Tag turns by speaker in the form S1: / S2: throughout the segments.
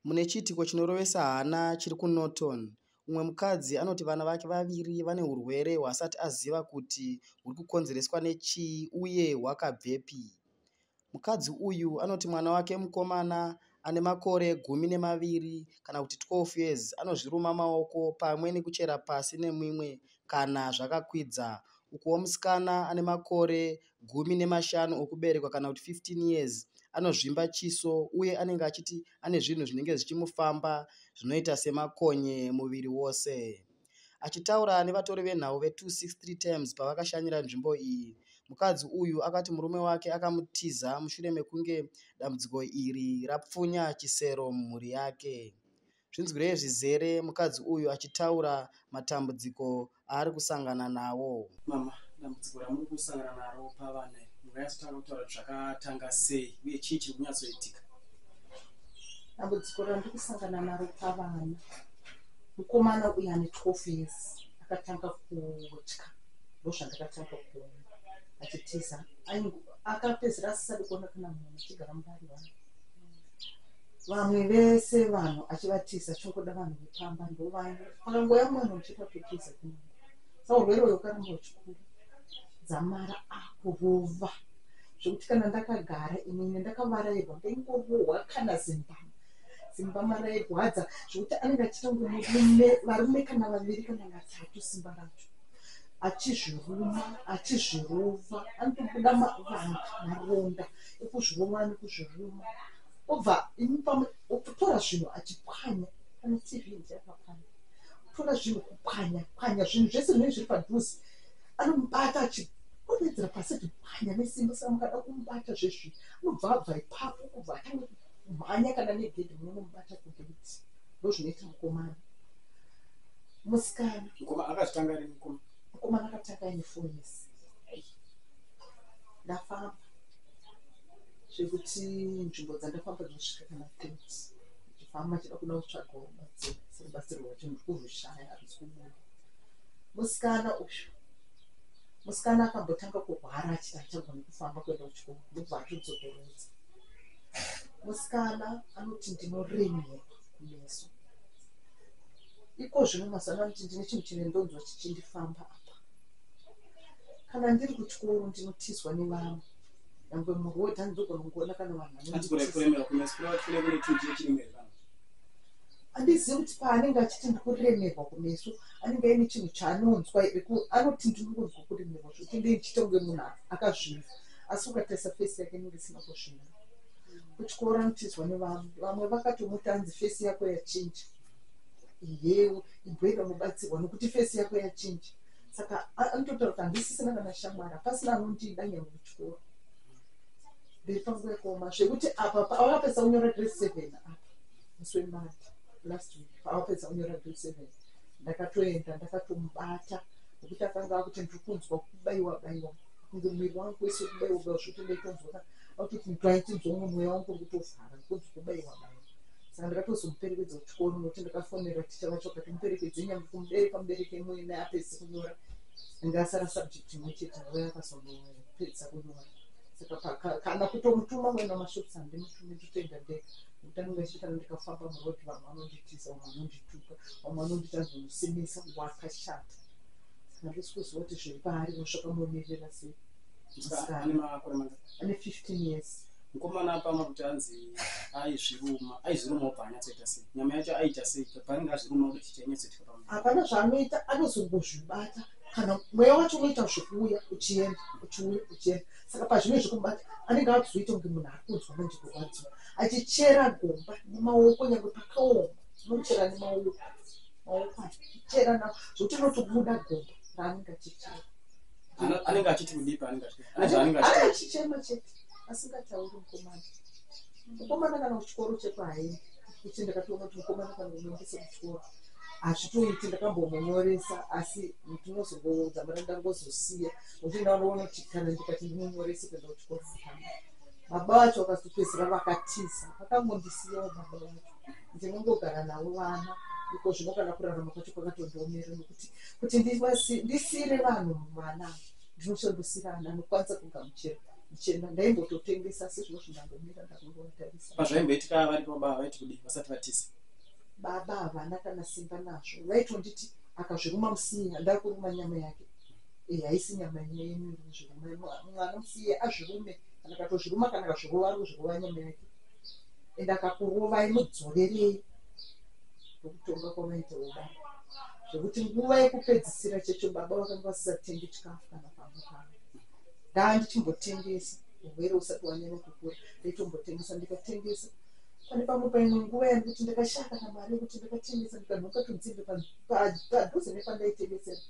S1: Mune chiitiko chinorovesa hana chiri kuNorton, umwe mukadzi anoti vana vake vaviri vane hurwere hwaasati aziva kuti huri kukonzereswa nechii uye hwakabvepi. Mukadzi uyu anoti mwana wake mukomana ane makore gumi nemaviri kana kuti 12 years anozviruma maoko pamwe nekuchera pasi nemimwe kana zvakakwidza ukuwo musikana ane makore gumi nemashanu okuberekwa kana kuti 15 years anozvimba chiso uye anenge achiti ane zvinhu zvinenge zvichimufamba zvinoita semakonye muviri wose achitaura nevatori venhau ve263 times pavakashanyira nzvimbo iyi mukadzi uyu akati murume wake akamutiza mushure mekunge dambudziko iri rapfunya chisero mumhuri yake Zvinzwirei zvizere mukadzi uyu achitaura matambudziko aari kusangana nawo. Mama, dambudziko
S2: ramuri kusangana naro pavana iri munganyatsotaura kutaura kuti zvakatanga sei uye chii chiri kunyatsoitika? Dambudziko
S3: randiri kusangana naro pavana, mukomana uyu ane 12 years akatanga kutya, ndozvandakatanga kuona achitiza, akapedzisira asisadi kuona kana munhu achigara mudare vangu. vamwe vese vanhu achivatiza chingoda vanhu vepamba ndovai akangoya mwana uchiita kutiza kunaa sa urwere uyo ukaramba uchikuru dzamara akurova zvekuti kana ndakagara inini ndakavarairwa ndaingorohwa kana zimbama zimbama rairwadza zvekuti anenge achiita kunge murume varume kana vaviri kana vatatu simba racho achizviruma achizvirova anotobuda mavanga maronda ekuzvirova nekuzviruma obva imi pamwe otora zvinhu achipwanya pane tv ndiapapana tora zvinhu kupwanya pwanya zvinhu zvese zvinenge zviri padhuze anomubata achipomedzera pasi achipwanya nesimba saka mukada kumubata zvezvi anobva abva ipapo kubva atange kumhanya kana negedhi munomubata kugeti ndo zvinoita mukomana musikana mukomana akatanga ri
S2: mukomana mukomana akatanga
S3: ine foni yese ndafamba zvekuti nzvimbo dzandafamba dzinosvika kana tens ndichifamba chida kuda kutsvagawo batsiro serubatsirwa wacho ndikuzvishaya handisi kubuda musikana uyu musikana akambotanga kurwara achiti achagoni kufamba kuenda kuchikoro ndobva atodzokeredza musikana anoti ndinoremera kumeso iko zvino mazano anoti ndine chinhu chine ndonzwa chichindifamba apa kana ndiri kuchikoro ndinotizwa nevamwe nyangwe muroad handizogona kungoona kana vanhu handizivi kuti paanenge achiti ndikuremerwa kumeso anenge aine chinhu chaanonzwa here anoti ndirikunzwa kuremerwa zvokuti ndei ndichiita kunge munhu akazvinza asi ukatarisa fesi yake inenge isina kuzvinza kuchikoro anotizwa nevamwe vamwe vakatomuti anzi fesi yako yachinja iyewo ibhoyi vanobatsirwa nokuti fesi yako yachinja saka anototaura kuti handisisina kana shamwari hapasina anondida nyangwe kuchikoro mberi pangu yakaoma zvekuti apa pawakapedza kunyora grade seven apa musi wemari last week pawapedza kunyora grade seven ndakatoenda ndakatomubata nokuti akanga akuti ndiri kunzwa kubaiwa baiwa kunge muviri wangu wese kubaiwa baiwa zvotondaitozwa akutoti ndaitinzwa mumweya wangu uri kutovhara kunzi kubaiwa baiwa saka ndakatozomuperekedza kuchikoro nokuti ndakafonera ticha vacho kati muperekedze nyambo kumubereka mubereke imwene apedzi kunyora anga asara subject imwe chete ave akazonopedza kunyora saka kana kutomutuma mwena mashops handimutume nditoenda ndega nokuti anenge achiti kana ndikafamba murodi vamwe vanonditiza vamwe vanondituka vamwe vanondita zvomusimisa wakashata saka ndisikuziva kuti zviri paari vosvaka momirira sei ane 15 years mukomana apama kuti
S2: anzi aizviruma aizviruma obva anyatsoita sei nyama yacho aita sei paanenge azviruma kuda chicha inyatsoitika pamu hapana zvaanoita
S3: anozongozvibata kana mweya wacho unoita zvekuuya uchienda uchiuya uchienda saka pazvine zvekubata anenge akuzoita kunge munhu ari kunzwa manje kurwadziwa achichera gomba nemaoko nyangwe pakaoma unochera nemaoko maoko achichera navo zvokuti unotobuda gomba raanenge achichera Ano- anenge
S2: achiti kudii paanenge achiti ane zvaanenge achiti
S3: achichema chete asingatauri mukomana mukomana kana kuchikoro chekwaye kuti ndakatoona kuti mukomana kana kunoendesa kuchikoro hazvitoiti ndakambomunyoresa asi ndinozongoudza mara ndangozosiya nokuti ndanoona kuti kana ndikati ndimunyorese kuenda kuchikoro mukana baba vacho vakazopedzisira vakatiza vakangondisiyawo baba vacho ndinongogara navo vana iko zvino kana kurarama kwacho kwakatondiomera nokuti kuti ndisiire vanhu mwana ndinochondosiira ana anokwanisa kugamuchira ndichienda ndaimbototengesa asi zvino zvindangomira ndakungovatarisa pazvaimboitika vari
S2: pababa vaiti kudii vasati vatiza baba
S3: havana kana simba nazvo vaitonditi akazviruma musiya ndakuruma nyama yake eh, haisi nyama ine yenyu zviruma mwana musiye azvirume kana katozviruma kana kazvirova ruzvirova nyama yake and akakurovai mudzorerei ndokutonga kwamaita uda zvekuti nguva yekupedzisira checho baba vakanga vasisatengi chikafu kana pamba pavo ndaa ndichimbotengesa urwere usati wanyanya kukura ndaitombotengesa ndikatengesa pane pamwe paimwe nguva yani kuti ndakashaya kana mari yekuti ndakatengesa ndikanhoka tunzimbe padhuze nepandaitengesera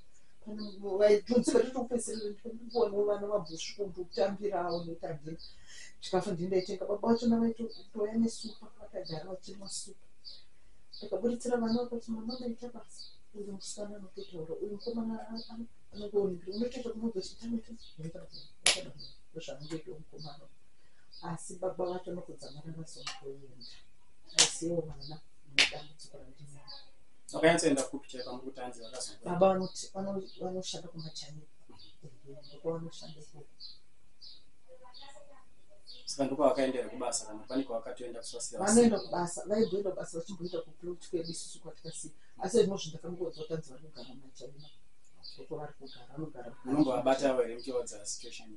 S3: tunzimbe totokupedzisira ndikuonawo vana vabhusvuku ndikutambirawo netandira chikafu ndini ndaitenga baba vacho ndavaitouya nesupa vakagara vachimwa supa ndakaburitsira vana vakati mama ndaita basa uyu musikana anototaura uyu mukomana anenge onekira unotoita kunobva chitamita ndozvanongoita mukomana asi baba vacho anotodzamara vasomutoenda asiwo vana mudambudziko randina vakanyatsoenda
S2: kupi chai pamukutanzi vakazobaba
S3: vanoshanda kumachaniko ndokwa vanoshanda ikoko
S2: saka ndiko vakaendera kubasa kana pane kwavakatoenda kusvasiranoenda kubasa
S3: vaimboenda kubasa vachimboita kuplot kwedu isusu kwatikasiya asi zvino zvinhu ndakangoudza kuti anzi vari kugara machina uko vari kugara vanogara unombovabata avo here
S2: muchivaudza situation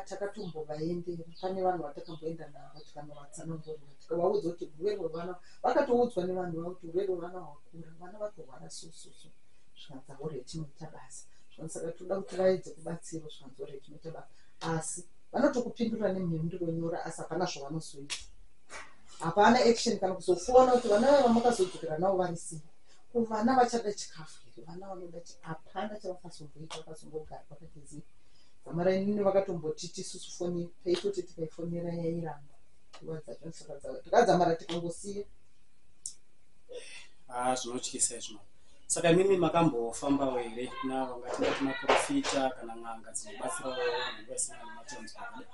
S2: takatombovaendera
S3: pane vanhu vatakamboenda navo tikanovatsanangurira tikavaudza kuti urwere hwevana vakatoudzwa nevanhu vavo kuti urwere hwevana hwakura vana vatorwara sososo zvikanzi aureti moita basa zvikanzi saka toda kuti vaedze kubatsirwa zvikanzi oreti moita basa asi vanotokupindura nemhinduro nyora asi hapana zvavanozoita hapana action kana kuzofona kuti vana vava makazodzokera navo vari sei kuvana vachada chikafu here vana vanoda chi hapana chavakazomboita vakazongogara vakagezei zamarainini vakatomboti tisusu foni taitoti tikaifonera yairamba nguva dzacho saka takadzamara tikangosiya haa
S2: zvinotyisa izvo saka imimi makambofambawo here kuna vangatingati maprofita kana n'anga dzinobatsirawo vanhu vasina nematambudziko akadai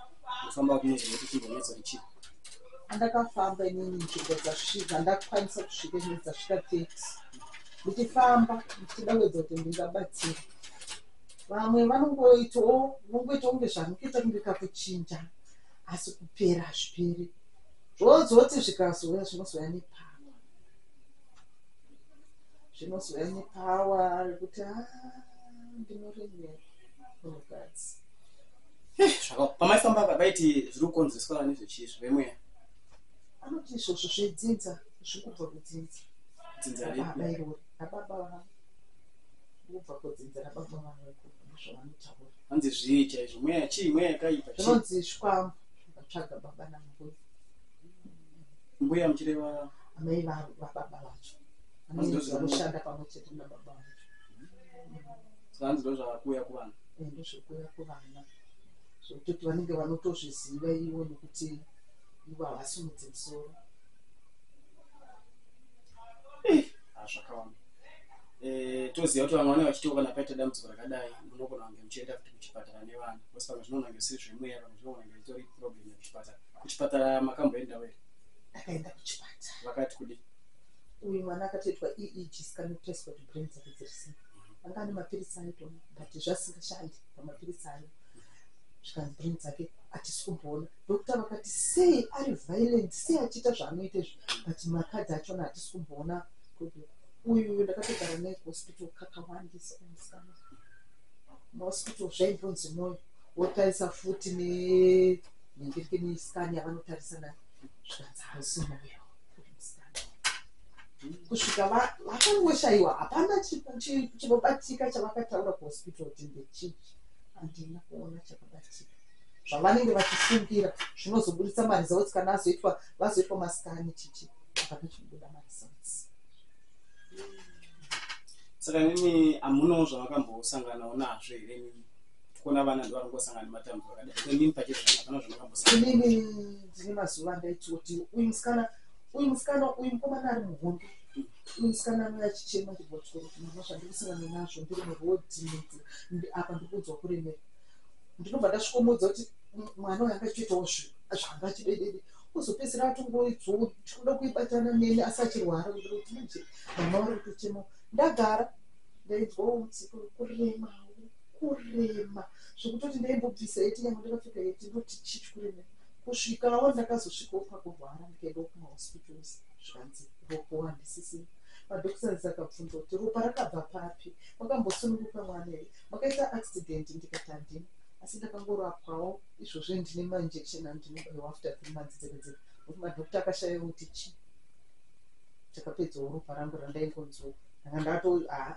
S2: kufamba kunoziva kuti chimbonetso richii andakafamba
S3: inini nzvimbo dzasvika ndakwanisa kusvika inini dzasvika thirty ndichifamba ndichida kuedza kuti ndingabatsira vamwe vanongoitawo unongoita kunge zvamukuita kunge kakuchinja asi kupera hazviperi zvozoti zvikazouya zvinozouya nepawa zvinozouya nepawa rekuti ah, ndinoremera munhukadzi eh,
S2: pamaifamba apa paiti zviri kukonzeswa nezvechii zvemweya anoti
S3: izvozvo zvedzinza zviri kubva kudzinza dzinza
S2: rebairori ababa
S3: vavo kubva kudzinza rababa vavo zvavanotaura hanzi zvii
S2: chaizvo mweya chii mweya yakaipa zvinonzi zvikwambo
S3: vatsvaga baba nambuya
S2: mbuya muchireva amai
S3: vababa vacho vanoshanda pamwe chete nababa vacho
S2: zvanzi ndo zvavakuuya kuvana eh, ndo zvekuuya
S3: kuvana zvekutoti vanenge vanotozviziva ivo nekuti ivo havasimudzi musoro
S2: eh, ah, zvakawanda eh, toziva kuti vamwe vane vachitiwo kana paita dambudziko rakadai munogona kunge muchienda kuti kuchipatara nevana kosi pamwe zvinonange siri zvemweya Zvawanga itori problem yekuchipatara. Kuchipatara makamboendawo here? Ndakaenda kuchipatara.
S3: Vakati kudii?
S2: Uyu mwana
S3: akatoitwa EEG scan kutariswa kuti brain dzake dziri sei. Anga ane mapiritsi aitoona but zvasingashandi pamapiritsi ayo. Zvikanzi brain dzake hatisi kumboona. Doctor vakati sei ari violent sei achiita zvaanoita izvi but makadzi achona hatisi kumboona kuti uyu uyu ndakatogara naye kuhospital kakawandisa kumusikana. Mahospital zvaimbonzi moyo. wotarisa futi ne nyandirike ne scan yavanotarisa na zvikanzi hausi moyo kusvika vakangoshayiwa hapana chinobatika chavakataura kuhospital kuti ndechii handina kuona chakabatika zvavanenge vachifungira zvinozoburitsa maresults kana azoitwa vazoitwa masikani chichi hapana chinobuda maresults
S2: saka nini hamunawo zvavakambosanganawo nazvo here nini kuona vana ndivarikungosangana nematambudzo akadai so inini pachezvo hapana
S3: zvandakambosangana inini ndine mazuva andaitoti uyu musikana uyu musikana uyu mukomana ari muhondo uyu musikana anga achichema chibotoro mama zvandikusangana nazvo ndiri murodhi mudzi apa ndikuudzwa kuremera ndinobva ndasvikomuudza kuti mwana uyu anga achitoitawo zvanga achidedede kuzopedzera atongoidzoo tikuda kuibatana neni asi achirwara ndikuti manje mama vari kutochema ndagara ndainzwawo mutsikurema kurema zvekutoti ndaimbobvisa heti nyangwe ndakapfeka heti ndoti chii chikurema kusvikawo ndakazosvikawo pakurwara ndikaendawo kumahospitals zvikanzi ropo handisisina madoctors akabvunza kuti ropa rakabva papi makambosununguka mwana here makaita accident ndikati handina asi ndakangorapwawo izvozvo ndine mainjection andinobaiwa after three months dzega dzega nokuti madoctor akashaya kuti chii takapedzawo ropa rangu randaingonzwa ndanga ndato haa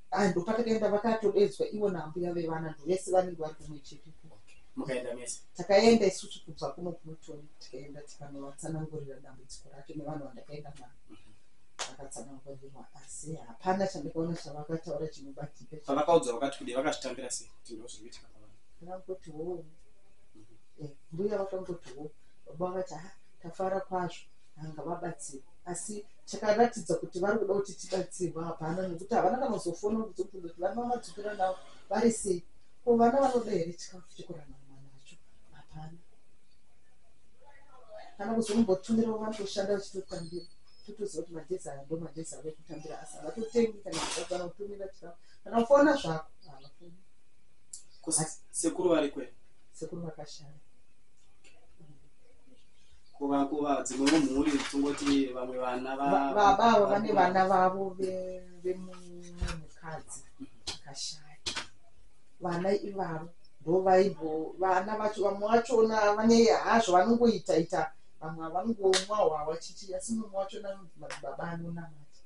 S2: Ah, ndopatakaenda
S3: vakatodedzwa ivo naambuya vevana ndovese vanenge vari kumwe chete mukaenda mese
S2: takaenda isusu kubva
S3: kuno kunotoni tikaenda tikanovatsanangurira dambudziko racho nevanhu vandakaenda navo vakatsanangurirwa asi hapana chandakaona chavakataura chinobatika pavakaudzwa vakati kudei
S2: vakazvitambira sei kuti ndo zviri kuitika pavanhu vakangoti wo
S3: mhm. eh, mbuya vakangoti wo baba vakati ha ah, tafara kwazvo vanga vabatsirwa asi chakaratidza kuti vari kuda kuti tibatsirwa hapana nekuti havana kana kuzofona kuzobvunza kuti vana vamadzukira navo vari sei ko vana vanoda here chikafu chekurana mwana vacho hapana kana kuzombotumira vana kushanda vachitotambira totoziva kuti magezi aya ndo magezi avo ekutambira asi havatotengi kana kuzakana kutumira chikafu kana kufona zvako havafoni
S2: sekuru vari kwe sekuru vakashaya kuva kuva dzimwewo mhuri tongoti vamwe vana baba avo vane
S3: vana vavo vemukadzi akashaya vana ivavo ndovaibo vana vacho vamwe vachona vane hazvo vanongoita ita vamwe havangomwa hwawa chichi asi mumwe wachona baba anonamata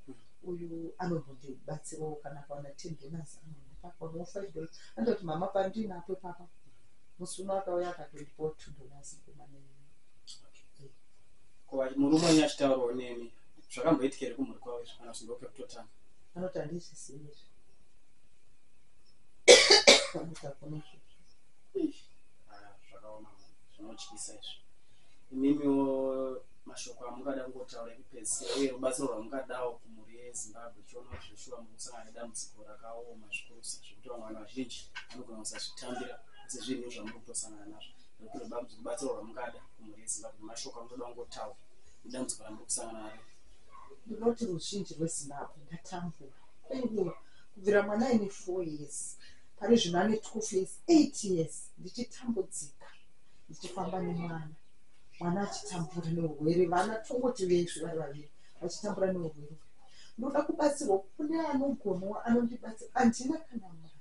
S3: uyu anombondibatsirawo kana kawana ten dollars anondipa kawana five dollars anototi mama pandinapo papa musi uno akauya akatondipawo two dollars kumanei
S2: ko murume wenyu achitaurawo nemi zvakamboitika here kumhuri kwavo izvo kana zvingope kutotanga anoti handizvisivi
S3: izvi anoti hakuna izvozvo Ah,
S2: zvakaoma mwana. zvinotyisa izvi imimiwo mashoko amungada kungotaura ekupedzisira uye rubatsiro rwamungadawo kumhuri yezimbabwe chiona kuti zveshuwa mukusangana nedambudziko rakaoma zvikuru kutosa zvekuti vamwe vanhu vazhinji vanogona kusazvitambira asi zvinhu zvamuri kutosangana nazvo nekuti noda kuti rubatsiro rwamungada kumhuri yezimbabwe mashoko amunoda kungotaura idambudziko ramuri kusangana naro ndinoti
S3: ruzhinji rwezimbabwe ndatambura kwenguva kubvira mwana aine four years pari zvino ane two face eight years ndichitambudzika ndichifamba nemwana mwana achitambura neurwere vana tongoti vesvi vari vaviri vachitambura neurwere ndoda kubatsirwa kune anogonawo anondibatsira handina kana mari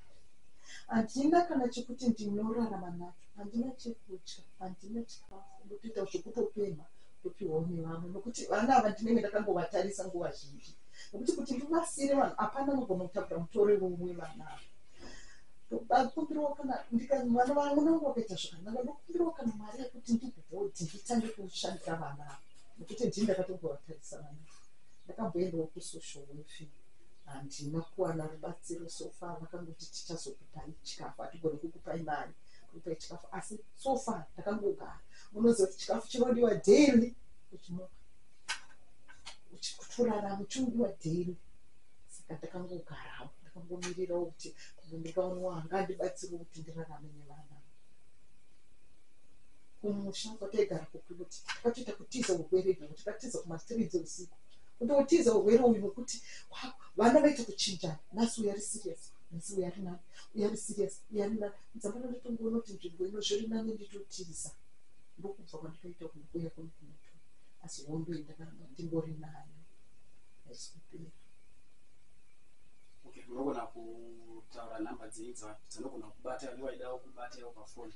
S3: handina kana chekuti ndinorarama nacho handina chekutya handina chikafu ndotoita zvekutopemha ndopiwawo nevamwe nokuti vana ava ndinenge ndakangovatarisa nguva zhinji nokuti kuti ndivasiire vanhu hapana anogona kutakura mutoro iwowe vana ava ndokumbirawo kana ndikamwana vangu nangu vakaita zvakanaka ndokumbirawo kana mari yekuti ndibhodhi nditange kushandira vana ava nokuti ndii ndakatogovatarisa vana ava Ndakaboendawo kusocial welfare handina kuwana rubatsiro so far vakangoti tichazokupai chikafu hatigone kukupai mari kukupai chikafu asi so far ndakangogara unoziva kuti chikafu chinodiwa daily uchimuka uchikutoraramo chinodiwa daily saka ndakangogarawo ndakangomirirawo kuti pamwe ndikaonawo hangandibatsiriwo kuti ndirarame nevana kumusha kwataigara kokuti kwatoita kutiza urwere izvo kuti katiza kumastridzi usiku kuti utiza urwere uyu nokuti vana vaita kuchinjana nhasi uya ri serious nhasi uya ri nani uya ri serious uya ri nani dzamana ndotongoona kuti nzvimbo ino zviri nani nditotiza ndokubva kwandikaita kuuya kwemukunoto asi hondo iyi ndakaramba ndingori nayo aisikupera okay unogona kutaura nhamba dzenyu dzavanhu
S2: dzinogona kubata nevaidao kubata yao pafoni